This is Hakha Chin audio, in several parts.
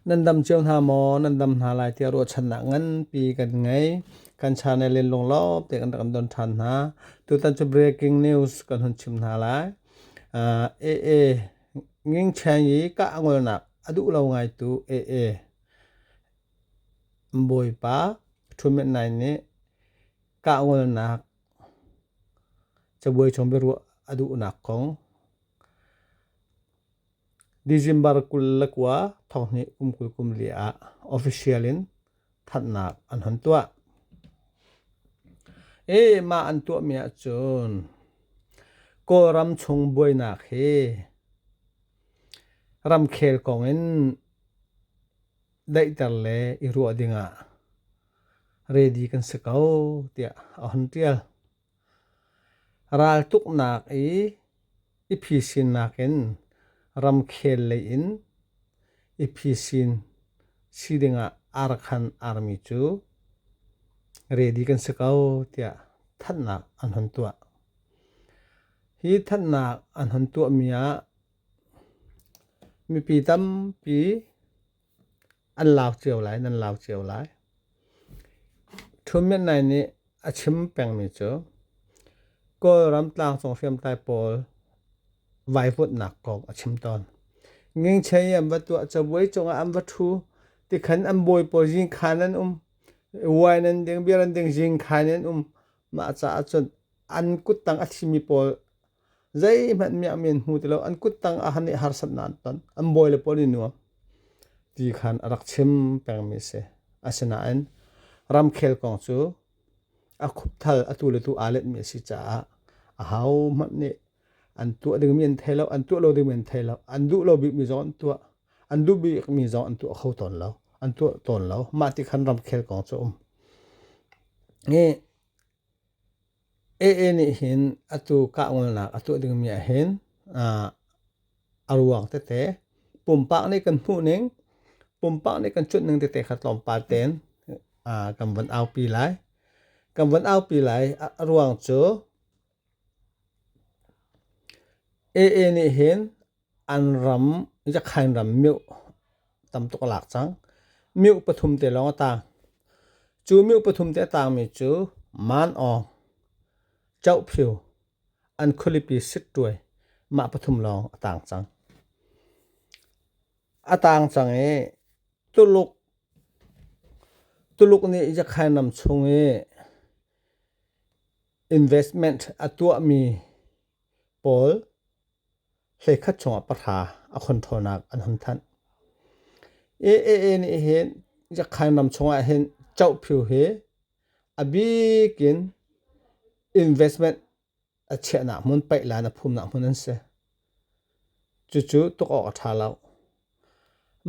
Nan dam cio hna maw? Nan dam hna lai tiah ruahchannak nganpi kan ngei. Kan channel in lunglawm tein kan rak don ṭhan hna. Tutan cu breaking news kan hun chim hna lai. Uh, AA Nging Chen i kah a ngolnak a duh lo ngaitu AA Bawipa ṭhuhmet nai nih kah ngolnak cabuai chung biaruah a duhnak kong. December kul le kua thonghnih kum kul kum li ah official in thanhnak an hun tuah. E mah an tuahmi ah cun Kawlram chung buainak hi ramkhel kong in daihter le i ruah ding ah ready kan si ko tiah a hun tial. Raltuknak i i phisin nakin ramkhel lei in i phisin si dingah arkhan armi cu ready kan si ko tiah thanhnak an hun tuah. Hi thanhnak an hun tuahmi ah mipi tampi an lau cio lai nan lau cio lai Thu Myint Nai nih a chim pengmi cu Kawlram tlangcung hriamtlai pawl vaivutnak kong a chim tawn ngingchei an va tuah cabuai cungah an va thu tikhan an bawi pawl zingkhan an um wine an ding beer an ding zingkhan an um Mah caah cun an kuttang a thlimi pawl zeihmanh miah mi an hmu ti lo. An kuttang ah han i harsat nan ton. An bawi le pawl i nuam ti khan a rak chim pengmi a si. Asinain ramkhel kong cu a khupthal atu le tu aa letmi a si caah ahohmanh nih an tuah dingmi an thei lo an tuah lo dingmi an thei lo an duh lo bikmi zong an tuah an duh bikmi zong an tuah kho tawn lo an tuah tawn lo mah ti khan ramkhel kong cu um e AA nih hin atu kahngalnak a tuah dingmi ah hin a ruang tete pumpak nih kan hmuh ning pumpak nih kan chut ning tete kha tlawmpal ten kan van aupi lai kan van aupi lai a ruang cu AA nih hin an ram Yakhain ram mioh tam tuk a lak cang. Mioh pathum te lawng a taang. Cu mioh pathum te a taangmi cu Man Aung, Choh Phyu, an khualipi Sittuai mah pathum lawng a taang cang. A taang cang i Tuluk, Tuluk nih Yakhain ram chung i Investment a tuahmi pawl hleikhat chungah pahra a khonthonak an hun thanh. AAA nih hin Yakhain ram chungah hin cohphiu hi a bik in investment a chiahnak hmun, paih lai in a phumnak hmun an si. Cucu tuk awk a ṭha lo.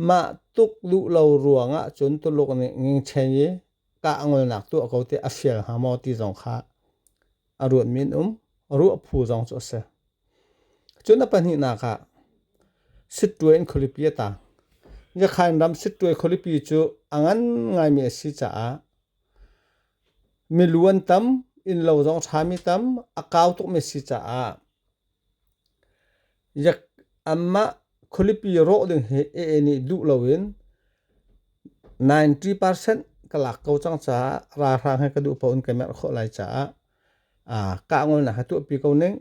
Mah tuk luh lo ruangah cun Tuluk nih ngingchen i kah ngolnak tuah ko ti a fial hnga maw ti zong kha a ruatmi an um. Ruah phu zong cu a si. Cun a pahnihnak ah Sittuai in khualipi a taang. Njakhain ram Sittuai khualipi cu a ngan ngaimi a si caah milu an tam, innlo zong ṭhami tam, a kau tukmi a si caah Yak anmah khualipi rawh ding hi AA nih duh loin ninety percent ka lak ko cang caah ralhrang he ka duh paoh in ka merh khawh lai caah kah ngolnak a tuahpi ko ning.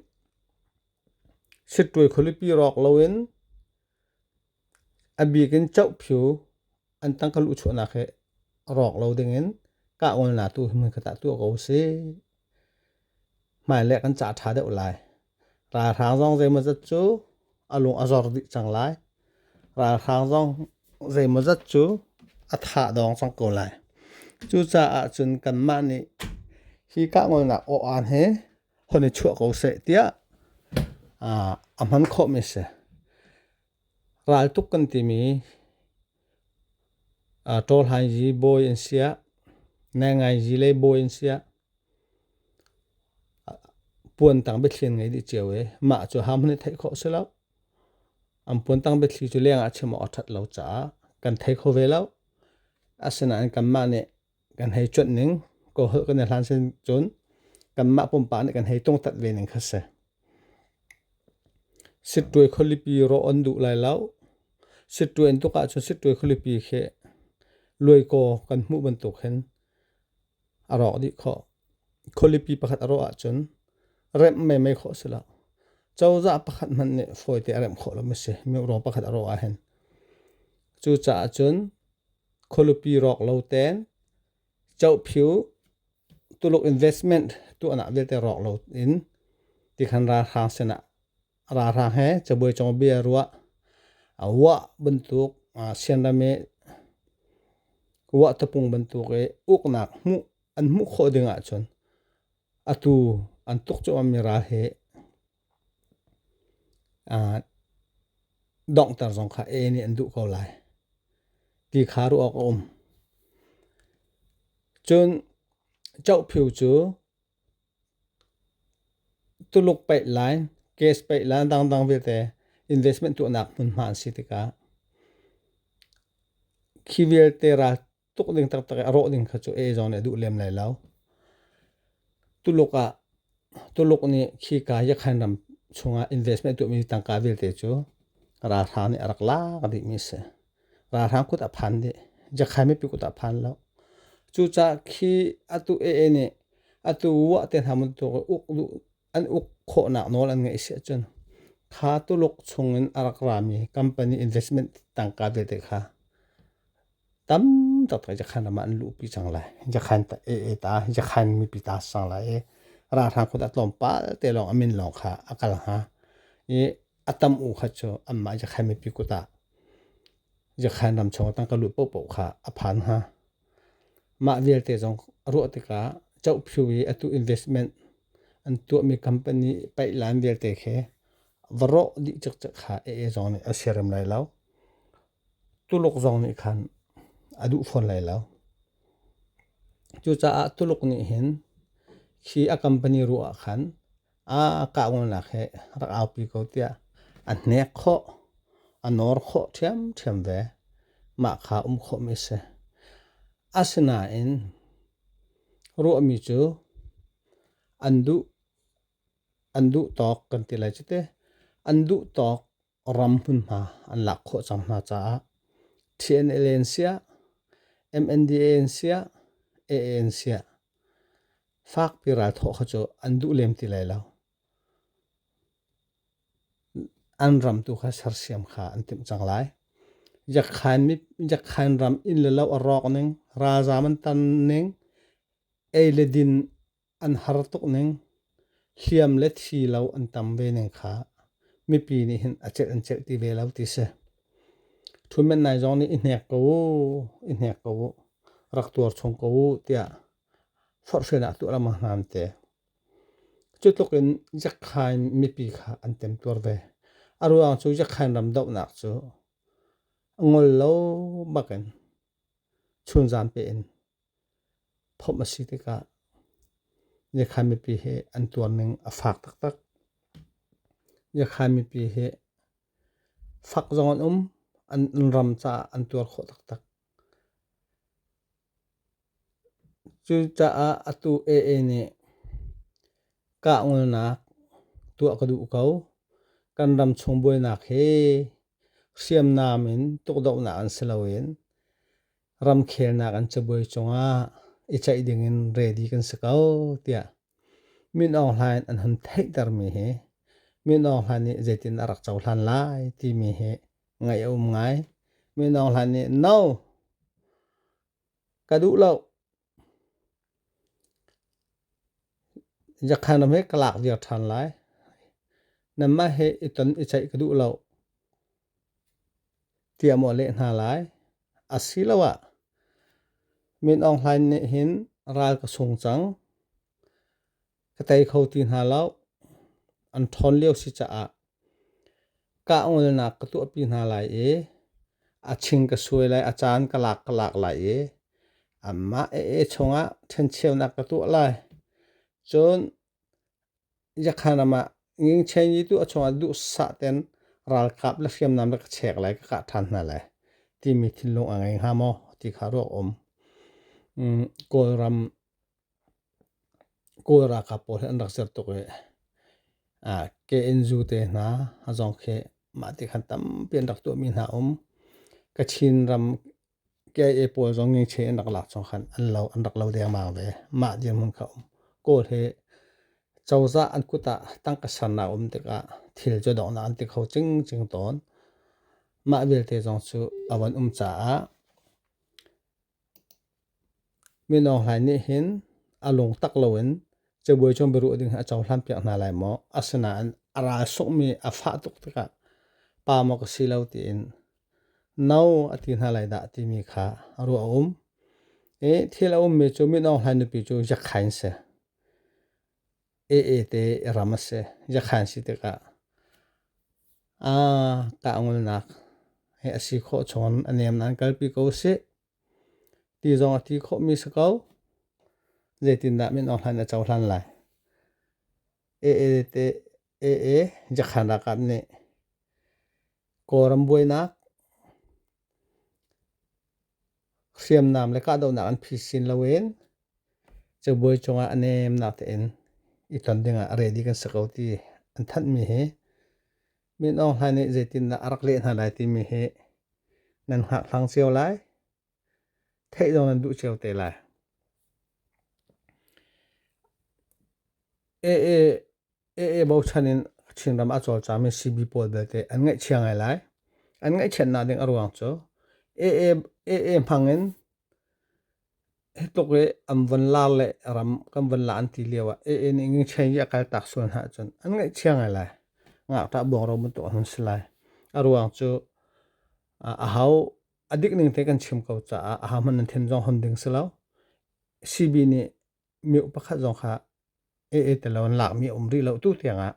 Sittuai khualipi rawk loin A bik in cohphyu an tang ka luh chuahnak hi rawk lo dingin kahngolnak tu hi hmunkhat ah tuah ko usih. Hmailei kan cah ṭha deuh lai. Ralhrang zong zeimawzat cu a lung a zor dih cang lai. Ralhrang zong zeimawzat cu a thah dawng cang ko lai. Cucaah cun kanmah nih hi kahngolnak aw'an hi hon i chuah ko seh tiah a hman khawhmi a si. Raltuk kan timi ṭawlhaizi bawi an siah, nengaizi lei bawi an siah, puantang biathlian ngei dih cio i mah cu ham hon i theih khawh si lo. An puantang biathli cu lengah a chim awk a ṭhat lo caah kan thei kho ve lo. Asinain kanmah nih kan hei cuanh ning ko holh kan i hlan sin cun kanmah pumpak nih kan hei tungtat ve ning kha si sittuai khualipi rawh on duh lai lo sittuai in tuk ahcun sittuai khualipi khi luaikaw kan hmuh bantuk hin a rawk dih khawh khualipi pakhat a rawh ahcun remh meimei khawh si lo cozah pakhat hmanh nih fawite a remh khawh lo mi si meurawng pakhat a rawh ahhin cucaah cun khualupi rawk lo ten chohphiu tuluk investment tuahnak vialte rawk lo in tikhan ralhrang sinah ralhrang he cabuai chongbia ruah a wah bantuk sianrame wah tapung bantuk i uknak hmuh an hmuh khawh ding ahcun atu an tuk cuahmahmi ral hi donghter zong kha a nih an duh ko lai ti kha ruah awk a um. Cun cohphiu cu Tuluk paih lai, gas paih lai dangdang vialte investment tuahnak hmunhma an si tikah khi vialte ra tuk ding taktak a rawh ding kha cu e zong nih a duh lem lai lo tuluk ah tuluk nih khi ka yakhan ram chungah investment tuahmi tangka vialte cu ralhrang nih a rak lak dihmi si ralhrang kut a phan dih jakhay mipi kut a phan lo cucah khi atu ee nih atu wah te hna mun tu uk an uk khawhnak nawl an ngeih si ahcun kha Tuluk chungin a rak rami company investment tangka tete kha tam tuk te jakhan ram ah an luhpi cang lai jakhan ta e e ta jakhan mipi ta sang lai i ralhrang kut a tlawmpal te lawng a min lawng kha a kal hnga i a tam u kha cu anmah jakhan mipi kut ah jakhan ram chung tangka luh popo kha a phan hnga Mah vialte zong a ruah tikah cohphu i atu investment an tuahmi company paihlan vialte khi va rawh dih cikcek kha AAzong nih a siarem lai lo. Tuluk zong nih khan a duh fawn lai lo. Cucaah Tuluk nih hin khi a company ruah ah khan a kahdohnak hi rak aupi ko tiah a hnek khawh, a nawr khawh ṭhiamṭhiam ve. Mah kha um khawhmi a si. Asinain ruahmi cu an duh, an duh tawk kan ti lai cu teh. An duh tawk ram hmunhma an lak khawh cang hna caah TNL in siah MNDA in siah AA in siah fakpi ralthawh kha cu an duh lem ti lai lo an ram tu kha sersiam kha an timh cang lai yakhain mi yakhain ram in le lo a rawk ning ralzam an tan ning ei le din an har tuk ning. Hliam le thi lo an tam ve ning kha mipi nih hin a celh an celh ti ve lo ti si. Thumen nai zong nih i hnek ko u, i hnek ko u, rak tuar chung ko u tiah forhren ah tuah lama hnan te. Cutluk in jakhain mipi kha an tem tuar ve. A ruang cu jakhain ram dohnak cu ngol lo bakin chunzan pe in Phomh a si tikah Njakha mipi hi an tuarning a fak taktak. Njakha mipi hi fak zong an um, an ram caah an tuar khawh taktak. Cucaah atu AA nih kah ngolnak tuah ka duh ko. Kan ram chung buainak hi hriamnam in tukdohnak an si loin ramkhelnak an cabuai cungah i ceih dingin ready kan si ko tiah Min Aung Hlain an hun theihtermi hi Min Aung Hlain nih zeitin a rak cohlan lai timi hi ngaih a um ngai. Min Aung Hlain nih no ka duh lo Zakha na hme ka lak viar ṭhan lai. Nanmah he i ton i ceih ka duh lo tiah maw leh hna lai. Asiloah Min Aung Hlaing nih hin ral ka sung cang. ka tei kho ti hna lo. An ṭhawn lio si caah kah ngolnak ka tuahpi hna lai i a ching ka suai lai, a caan ka lak ka lak lai i amah ee chungah ṭhencheunak ka tuah lai. Cun yakhanam ah ngingchei ni tu a chungah duhsah ten ralkap le hriamnam le ka chek lai, ka kah ṭhan hna lai timi thinlung a ngei hnga maw ti kha ruak um. Kawlram Kawl ralkap pawl hi an rak ser tuk i KNU te hna a zong khi mah ti khan tampi an rak tuahmi hna um. Kachin ram KIA pawl zong ngengcheh an rak lak chung khan an lo an rak lo dengmang ve. Mah dirhmun kha um. Kawl hi cozah an kut ah tangka sernak um tikah thil cu donghnak an ti kho cingcing tawn. Mah vialte zong cu a van um caah Mino hlai nih hin a lungtak loin cabuai cung biaruah ding hi a cohlan piak hna lai maw? Asinain a ral sungmi a fah tuk tikah pa maw ka si lo tiin no a ti hna lai dah timi kha ruah a um. I thil a ummi cu mino hlai nupi cu yakhain si. Ee te ram a si. Yakhan si tikah tahngulnak hi a si khawh chawn. A nem nan kalpi ko sih. Ti zong a ti khawhmi si ko. Zeitindah min awk hlan a cohlan lai. Ee te Ee Yakhan Rakap nih Kawlram buainak, hriamnam le kahdohnak an phi sin loin cabuai cungah a nemnak tein i ton dingah ready kan si ko ti an thanhmi hi Min Aung Hlain nih zeitindah a rak leh hna lai timi hi nan hngakthlang cio lai, theih zong nan duh cio te lai. AA AA bochan in Chinram a cawlcami CB pawl belte an ngaihchia ngai lai. An ngaihchiatnak ding a ruang cu AA, AA hmangin hi tluk i an von lar le ram kan von la an ti lio ah AA nih ngingcheng i a kal tak sual hna cun an ngaihchia ngai lai. Ngakṭah buangro bantuk a hun si lai. A ruang cu a hau a dik ning te kan chim ko caah a ha hman nan thin zong hon ding si lo. CB nih mioh pakhat zong kha ee te lo an lakmi a um rih lo tu tiangah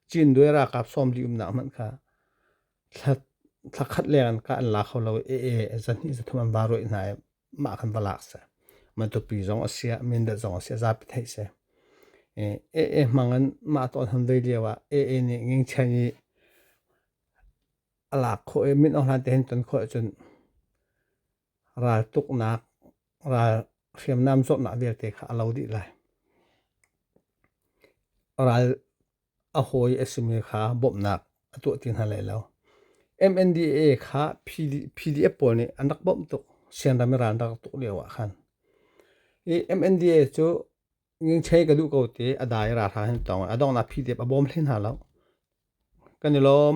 Chin due ralkap sawm li umnak hmanh kha thla thla khat leng an ka an la kho lo ee zan hnih zathum an ba ruai hna i mah khan va lak se matupi zong a sia mindat zong a sia zapi thei se ee mangan mah ton han dei lio ah ee nih nging chen i a lak kho i min ohlan te hin ton kho cun raltuknak, hriamnam zawtnak vialte kha a lo dih lai. Ral a hawi a simi kha bawmhnak a tuah ti hna lai lo. MNDA kha PDF pawl nih an rak bawmh tuk. Sianram i ral rak tuk lio ah khan. I MNDA cu ngingchei ka duh ko ti a dai ralhrang hin tong. A donghnak PDF a bawm hlei hna lo. Kan i lawm.